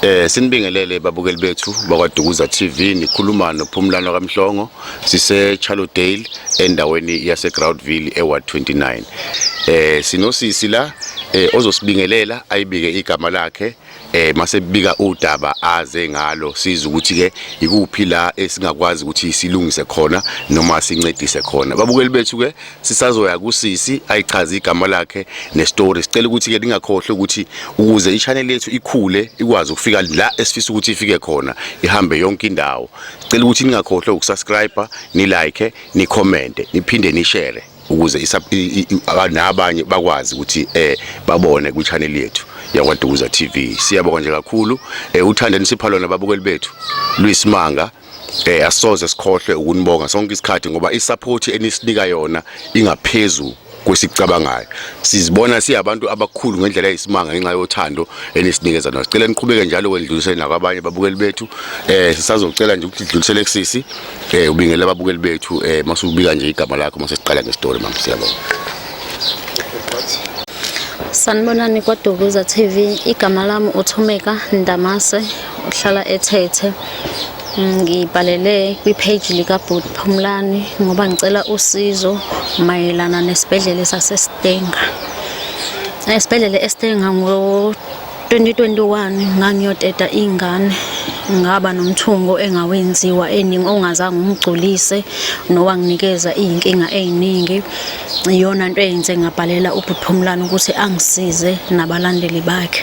Eh sinibingelele babukeli bethu bakwaDukuza TV nikhuluma noPhumlano kaMhlongo sise Charlotdale endaweni yase Groundville eWard 29 eh sinosisi la eh ozosibingelela ayibike igama lakhe eh mase bika udaba aze ngalo siza ukuthi ke ikuphi la esingakwazi ukuthi silungise khona noma sincedise khona babukeli bethu ke sisazoya kusisi ayichaze igama lakhe nestory sicela ukuthi ke ningakhohle ukuthi ukuze i-channel yethu ikhule ikwazi ukufika la esifisa ukuthi ifike khona ihambe yonke indawo sicela ukuthi ningakhohle ukusubscribe nilike nicommente niphinde nishare ukuze nabanye bakwazi ukuthi eh babone kwi channel yethu yakwaDukuza TV siyabonga nje kakhulu eh uthanda nisipha lona babukeli bethu luyisimanga eh asoze sikhohlwe ukunibonga sonke isikhathi ngoba isupport enisinika yona ingaphezulu kwesicabangayo sizibona siyabantu abakhulu ngendlela eyisimanga ngenxa yothando enisinikeza nalo sicela niqhubeke njalo kwendlulisele nakwabanye babukeli bethu eh sisazocela nje ukuthi dlulisele kusisi eh ubingele ababukeli bethu eh masubika nje igama lakho masesiqala ngestory mama siyabonga Sanibonani kwaDukuza TV igama lami uThumeka Ndamase uhlala ethethe ngibhalele kwi-page likabhut phumlani ngoba ngicela usizo mayelana nesibhedlela sasestenga esibhedlela estenga ngo-2021 ngangiyoteta iy'ngane ngaba nomthungo engawenziwa eningi ongazange umgculise nowanginikeza iy'nkinga ey'ningi iyona nto eyenze ngabhalela ubhuthumlane ukuthi angisize nabalandeli bakhe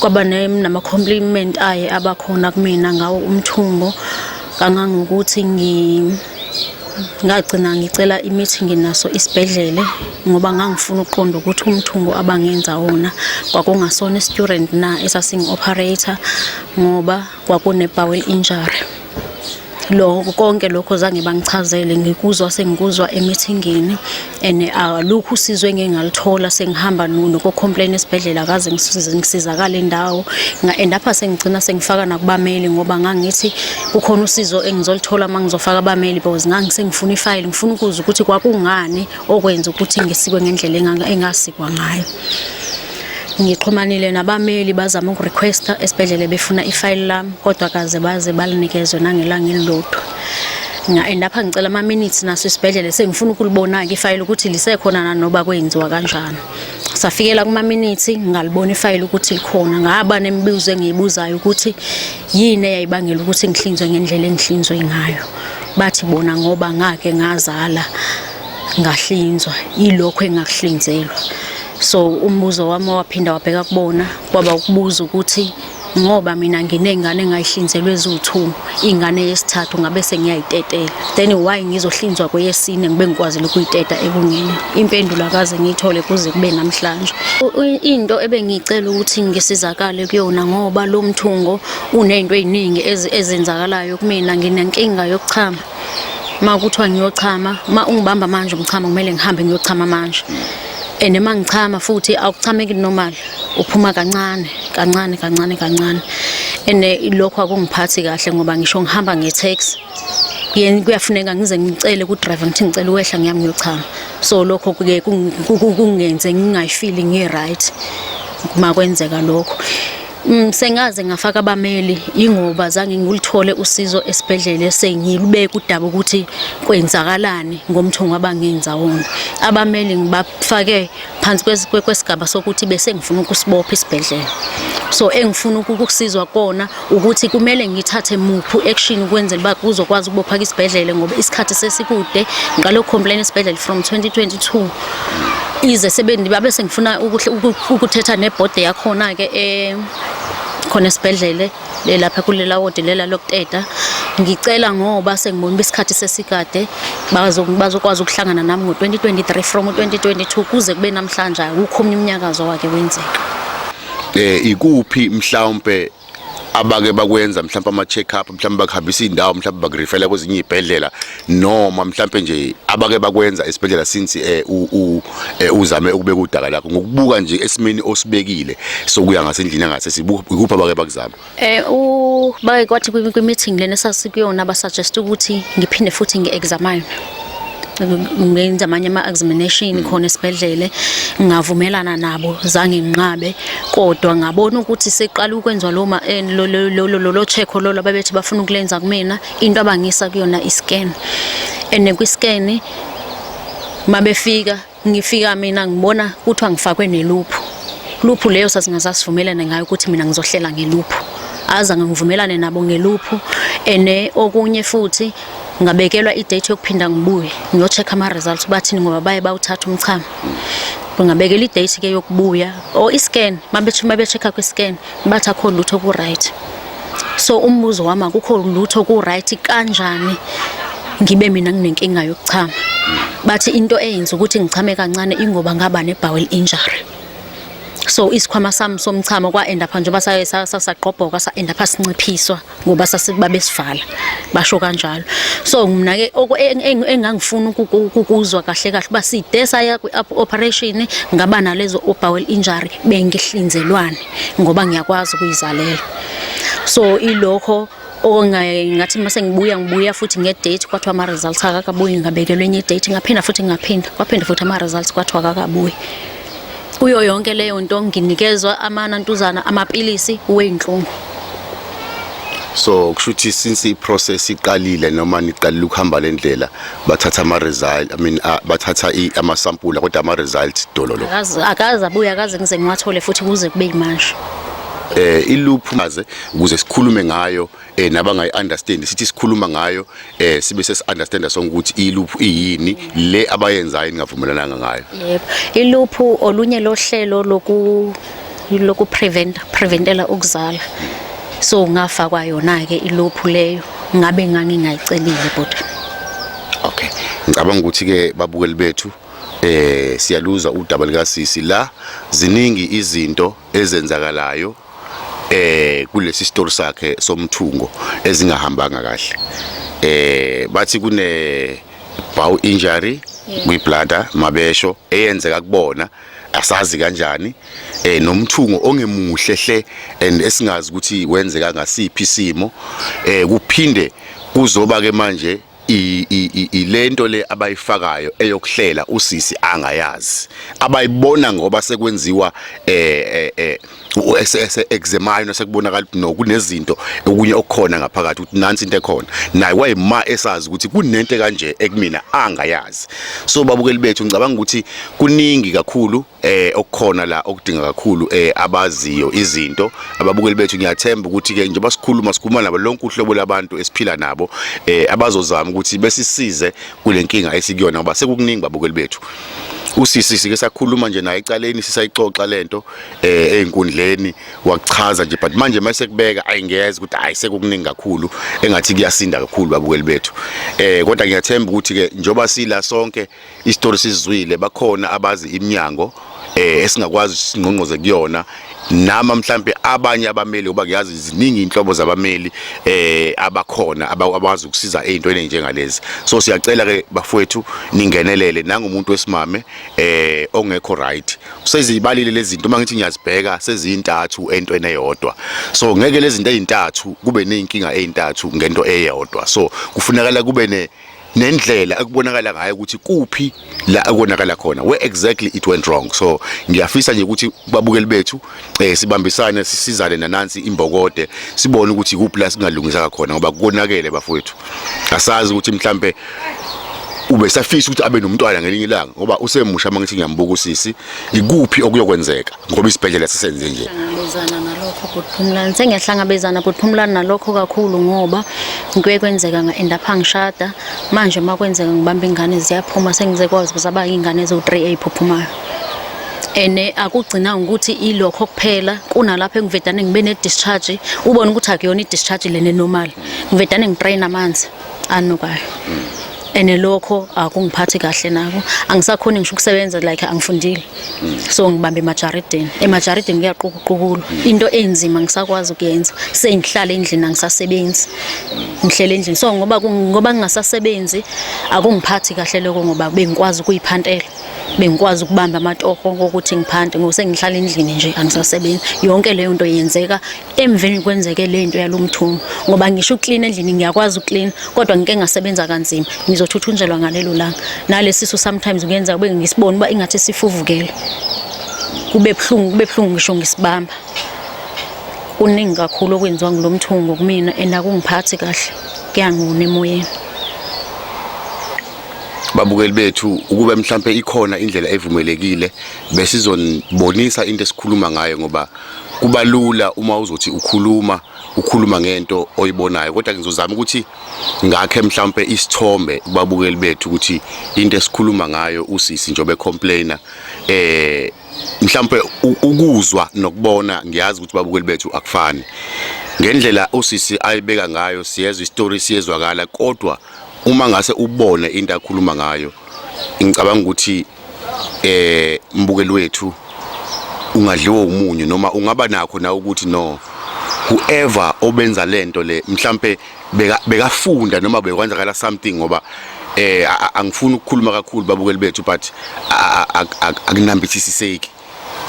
kwaba nama-compliment aye abakhona kumina ngawo umthungo kangangokuthi ngagcina ngicela imithi nginaso isibhedlele ngoba ngangifuna ukuqonda ukuthi umthungo abangenza wona kwakungasona i-student na esasingi-operator ngoba kwakune-bowel injury lo konke lokho zange bangichazele ngikuzwa sengikuzwa emithingini and alukho usizo engingalithola sengihamba nuno ko-complain esibhedlela kaze ngisizakale indawo and apha sengigcina sengifaka nakubameli ngoba ngangithi kukhona usizo engizolithola uma ngizofaka abameli because ngangisengifuna ifayile ngifuna ukuzwa ukuthi kwakungani okwenza ukuthi ngisikwe ngendlela engasikwa ngayo Ngixhumanile nabameli bazama ukurequesta esibhedlela befuna ifayili lami kodwa kaze baze balinikezwe nangelanga elilodwa. Nga-end up ngicela ama-minutes naso isibhedlela sengifuna ukulibona-ke ifayili ukuthi lisekhona nanoba kwenziwa kanjani. Safikela kuma-minutes ngalibona ifayili ukuthi likhona. Ngaba nemibuzo engiyibuzayo ukuthi yini eyayibangela ukuthi ngihlinzwe ngendlela engihlinzwe ngayo. Bathi bona ngoba ngake ngazala ngahlinzwa, yilokho engakuhlinzelwa. so umbuzo wami waphinda wabheka kubona kwaba ukubuza ukuthi ngoba mina nginengane engayihlinzelwe eziwu-two ingane yesithathu ngabe sengiyayitetela then why ngizohlinzwa kweyesine ngibe ngikwazile ukuyiteta ekunina impendulo akaze ngiyithole kuze kube namhlanje into ebengiyicela ukuthi ngisizakale kuyona ngoba lo mthungo uney'nto ey'ningi ezenzakalayo kumina nginenkinga yokuchama uma kuthiwa ngiyochama uma ungibamba manje umchama kumele ngihambe ngiyochama manje and uma ngichama futhi awuchameki normal uphuma kancane kancane kancane kancane and eh, lokho akungiphathi kahle ngoba ngisho ngihamba nge-tax yena kuyafuneka ngize ngicele ku-driver ngithi ngicela uwehla ngiyami ngiyochama so lokho kuke kungenze ngingayifili ngi-right uma kwenzeka lokho Mm, sengaze ngafaka abameli ingoba zange ngilithole usizo esibhedlela sengilubeka udaba ukuthi kwenzakalani ngomthungo abangenza wona abameli ngibafake phansi kwesigaba sokuthi bese ngifuna ukusibopha isibhedlela so engifuna ukusizwa kona ukuthi kumele ngithathe muphi action ukwenzela uba kuzokwazi ukubopha isibhedlela ngoba isikhathi sesikude ngalo complain isibhedlela from 2022 ize sebendi babe sengifuna ukuthetha nebhode yakhona-ke um khona esibhedlele lelapha kulela wodi lela lokuteta ngicela ngoba sengibona uba isikhathi sesikade bazokwazi ukuhlangana nami ngo-2023 from u-2022 kuze kube namhlanje akukho omnye umnyakazo wake wenzeka um ikuphi mhlawumpe abake bakwenza mhlawumbe ama check up mhlawumbe bakuhambisa indawo mhlawumbe bakurifela kwezinye izibhedlela noma mhlawumbe nje abake bakwenza esibhedlela since eh, eh uzame ukubeka udaka lakho ngokubuka nje esimeni osibekile sokuya ngasendlini ngase sibukupha bake bakuzama eh u bake kwathi kwi meeting lena sasikuyona ba suggest ukuthi ngiphinde futhi ngi examine ngenza amanye ama-examination mm. khona esibhedlele ngavumelana nabo zange nginqabe kodwa ngabona ukuthi seqala ukwenziwa lo eh, lolo check lolo ababethi bafuna ukulenza kumina into abangisa kuyona i-scan and kwi-scan mabefika Ngifika mina ngibona kuthiwa ngifakwe neluphu. Luphu leyo sasingazasivumelana ngayo ukuthi mina ngizohlela ngeluphu. Azange ngivumelane nabo ngeluphu ene okunye futhi ngabekelwa i-date yokuphinda ngibuye ngiyocheck ama-results bathini ngoba baye bawuthatha umchamo ngabekela i-date ke yokubuya or i-scan mabethi mabe-check-a kwi-scan bathi akho lutho ku right so umbuzo wami akukho lutho ku right kanjani ngibe mina nginenkinga yokuchama bathi into eyenza ukuthi ngichame kancane ingoba ngaba ne bowel injury so isikhwama sami somchamo kwa end up nje basayesasagqobhoka sa end up sinciphiswa ngoba sasikuba besivala basho kanjalo so mina ke engangifuna ukuzwa kahle kahle uba side saya kwi-operation ngaba nalezo obowel injury bengihlinzelwane ngoba ngiyakwazi ukuyizalela so ilokho okungathi uma sengibuya ngibuya futhi ngedate kwathiwa ama-results akakabuyi ngabekelwe enye idate ngaphinda futhi ngaphinda kwaphinda futhi ama-results kwathiwa akakabuyi kuyo yonke leyo nto nginikezwa amanantuzana amapilisi weyinhlungu so kusho ukuthi since iprocess iqalile noma niqalile ukuhamba le ndlela bathatha ama-result i mean uh, bathatha amasampula kodwa ama-result dololo akaze abuye akaze ngize ngiwathole futhi kuze kube yimanje eh iluphu maze ukuze sikhulume ngayo eh nabangayi understand sithi sikhuluma ngayo eh sibe sesi understand sonke ukuthi iluphu iyini le abayenzayo ningavumelananga ngayo yebo iluphu olunye lohlelo loku loku prevent preventela ukuzala so ngafa kwayona ke iluphu leyo ngabe ngangingayicelile bhuti okay ngicabanga ukuthi ke babukeli bethu eh siyaluza udaba likasisi la ziningi izinto ezenzakalayo eh kulesi story sakhe somthungo ezingahambanga kahle eh bathi kune bow injury kwiblada mabesho eyenzeka kubona asazi kanjani eh nomthungo ongemuhle hle and esingazi ukuthi wenzeka ngasiphi isimo eh kuphinde kuzoba ke manje ilento le abayifakayo eyokuhlela usisi angayazi abayibona ngoba sekwenziwa eh eh uSS eh, examine osekubonakala ukuthi no kunezinto okunye okukhona ngaphakathi ukuthi nansi into ekhona naye wayima esazi ukuthi kunento kanje ekumina angayazi so babukeli bethu ngicabanga ukuthi kuningi kakhulu eh okukhona la okudinga kakhulu eh abaziyo izinto ababukeli bethu ngiyathemba ukuthi ke njengoba sikhuluma sikhuluma nabo lonke uhlobo labantu esiphila nabo eh abazozama ukuthi besisize kulenkinga esikuyona ngoba sekukuningi babukeli bethu usisi sike sakhuluma nje naye ecaleni sisayixoxa lento eh einkundleni wachaza nje but manje mase kubeka ayingeze ukuthi hayi sekukuningi kakhulu engathi kuyasinda kakhulu babukeli bethu eh kodwa ngiyathemba ukuthi ke njoba sila sonke isitori sizwile bakhona abazi iminyango eh esingakwazi singqongqoze kuyona nama mhlambe abanye abameli uba kuyazi ziningi inhlobo zabameli eh abakhona abakwazi ukusiza ezintweni njengalezi so siyacela ke bafowethu ningenelele nangumuntu wesimame eh ongekho right usezibalile lezi zinto uma ngithi ngiyazibheka sezintathu entweni eyodwa so ngeke lezi zinto ezintathu kube nezinkinga ezintathu ngento eyodwa so kufunakala kube ne nendlela ekubonakala ngayo ukuthi kuphi la ekonakala khona where exactly it went wrong so ngiyafisa nje ukuthi babukeli bethu eh sibambisane sisizane nanansi imbokode sibone ukuthi kuphi la singalungisa khona ngoba konakele bafowethu asazi ukuthi mhlambe ube safisa ukuthi abe nomntwana ngelinye ilanga ngoba usemusha mangithi ngiyambuka usisi ikuphi okuyokwenzeka ngoba isibhedlela sisenze nje ngihlangabezana nalokho kuphumlana sengiyahlangabezana kuphumlana nalokho kakhulu ngoba ngike kwenzeka nga-end up angishada manje uma kwenzeka ngibamba ingane ziyaphuma sengize kwazi zaba iy'ngane eziwu-3 ey'phuphumayo and eh, akugcina ukuthi ilokho kuphela kunalapho engivedane ngibe ne-discharge ubone ukuthi akuyona i-discharge lene normal ngivedane ngitrain amanzi anukayo ene lokho akungiphathi kahle nako angisakhoni ngisho ukusebenza like angifundile so ngibamba emajaridini emajaridini kuyaqukuqukulwa into enzima ngisakwazi ukuyenza sengihlala endlini angisasebenzi ngihlele endlini so ngoba ngoba ngingasasebenzi akungiphathi kahle lokho ngoba bengikwazi ukuyiphantela bengikwazi ukubamba amatoho ngokuthi ngiphante ngoba sengihlala endlini nje angisasebenzi yonke leyo nto yenzeka emveni kwenzeke le nto yalo mthungo ngoba ngisho uklina endlini ngiyakwazi uklina kodwa ngike ngasebenza kanzima ngizothuthunjelwa ngalelo langa nalesisu sometimes kuyenza kube ngisibona uba ingathi sifuvukele kube buhlungu kube buhlungu ngisho ngisibamba kuningi kakhulu okwenziwa ngulo mthungo kumina and akungiphathi kahle kuyangona emoyeni babukeli bethu ukube mhlambe ikhona indlela evumelekile besizonibonisa into esikhuluma ngayo ngoba kuba lula uma uzothi ukhuluma ukhuluma ngento oyibonayo kodwa ngizozama ukuthi ngakhe mhlawumbe isithombe kubabukeli bethu ukuthi into esikhuluma ngayo usisi njobe complainer eh mhlawumbe ukuzwa nokubona ngiyazi ukuthi babukeli bethu akufani ngendlela usisi ayibeka ngayo siyezwa istory siyezwakala kodwa uma ngase ubone into akhuluma ngayo ngicabanga ukuthi eh mbukeli wethu ungadliwa umunyu noma ungaba nakho na ukuthi no whoever obenza lento le mhlambe bekafunda noma bekwenzakala something ngoba eh angifuni ukukhuluma kakhulu babukeli bethu but akunambithisiseki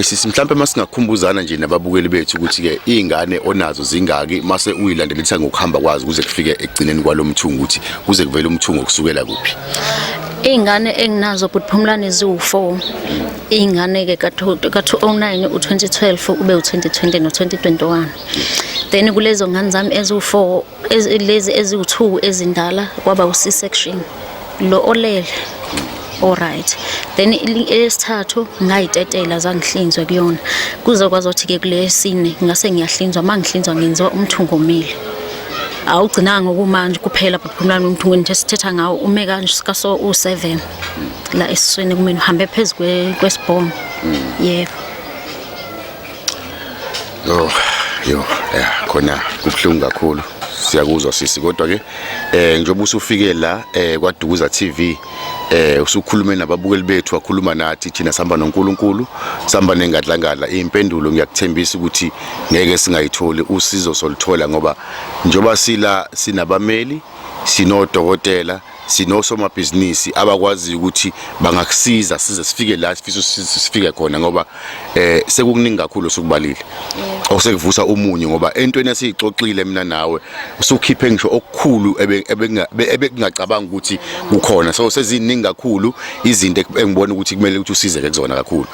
Sisi mhlawumbe masingakhumbuzana nje nababukeli bethu ukuthi ke izingane onazo zingaki mase uyilandelisa ngokuhamba kwazi kuze kufike ekugcineni kwalomthungo ukuthi kuze kuvele umthungo kusukela kuphi Izingane enginazo bhuti Phumlani ziwu4 izingane ke ka2009 u2012 ube u2020 no2021 then kulezo ngane zami eziwu4 lezi eziwu-two ezindala kwaba u-c section lo olele alright then elesithathu ngayitetela zangihlinzwe kuyona kuze kwazothi-ke kulesine ngase ngiyahlinzwa uma ngihlinzwa ngenziwa umthungo omile awugcinanga okumanje kuphela but kumlami umthungo nje sithetha ngawo ume kaso u-seven la esiswini kumina uhambe phezu kwesibhono mm. yebo yeah. Yo, yo, yeah, khona kubuhlungu kakhulu. Siyakuzwa sisi kodwa ke eh njengoba usufike la eh kwaDukuza TV eh usukhulume nababukeli bethu wakhuluma nathi thina sihamba noNkulunkulu sihamba nengadlangadla impendulo ngiyakuthembisa ukuthi ngeke singayitholi usizo soluthola ngoba njoba sila sinabameli sinodokotela sinosomabhizinisi abakwaziyo ukuthi bangakusiza size sifike la sifisa sifike khona ngoba eh sekukuningi kakhulu sokubalile osekuvusa umunyu ngoba entweni esiyixoxile mina nawe usukhiphe ngisho okukhulu ebekungacabanga ukuthi kukhona so seziningi kakhulu izinto engibona ukuthi kumele ukuthi usizeke kuzona kakhulu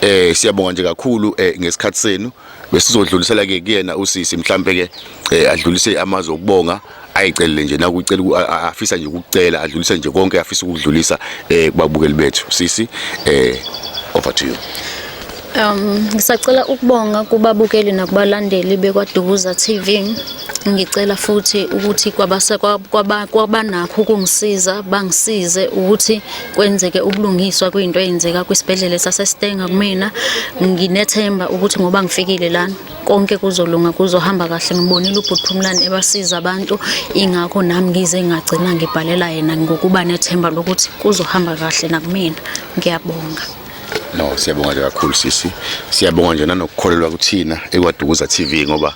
eh siyabonga nje kakhulu eh, ngesikhathi senu besizodlulisela ke kuyena usisi mhlambe ke eh, adlulise amazwi okubonga ayicelele nje nakucela afisa nje ukucela adlulise nje konke afisa ukudlulisa eh kubabukeli bethu sisi eh over to you Um ngisacela ukubonga kubabukeli nakubalandeli bekwaDukuza TV. Ngicela futhi ukuthi kwabase kwabanakho ukungisiza bangisize ukuthi kwenzeke ubulungiswa kwinto eyenzeka kwisibhedlela saseStenga kumina nginethemba ukuthi ngoba ngifikile lana konke kuzolunga kuzohamba kahle ngibonile ubhuthumlani ebasiza abantu ingakho nami ngize ngagcina ngibhalela yena ngokuba nethemba lokuthi kuzohamba kahle nakumina ngiyabonga no siyabonga nje kakhulu sisi siyabonga nje nanokukholelwa kuthina ekwadukuza TV ngoba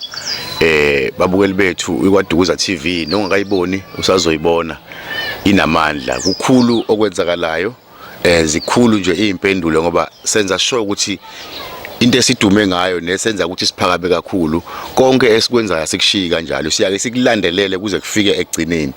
eh babukeli bethu ikwadukuza TV nongakayiboni usazoyibona inamandla kukhulu okwenzakalayo eh zikhulu nje izimpendulo ngoba senza sure ukuthi into esidume ngayo nesenza ukuthi siphakame kakhulu konke esikwenzayo sikushiyi kanjalo siyake sikulandelele kuze kufike ekugcineni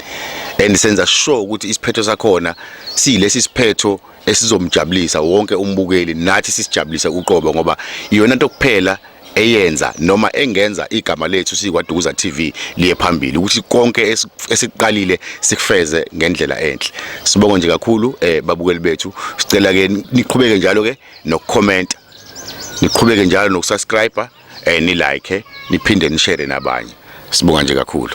and senza sure ukuthi isiphetho sakhona silesi siphetho esizomjabulisa wonke umbukeli nathi sisijabulise uqobo ngoba iyona nto kuphela eyenza noma engenza igama lethu sikwaDukuza TV liye phambili ukuthi konke esiqalile sikufeze ngendlela enhle sibonga nje kakhulu eh babukeli bethu sicela ke niqhubeke njalo ke nokucomment niqhubeke njalo nokusubscribe eh ni like niphinde ni share nabanye sibonga nje kakhulu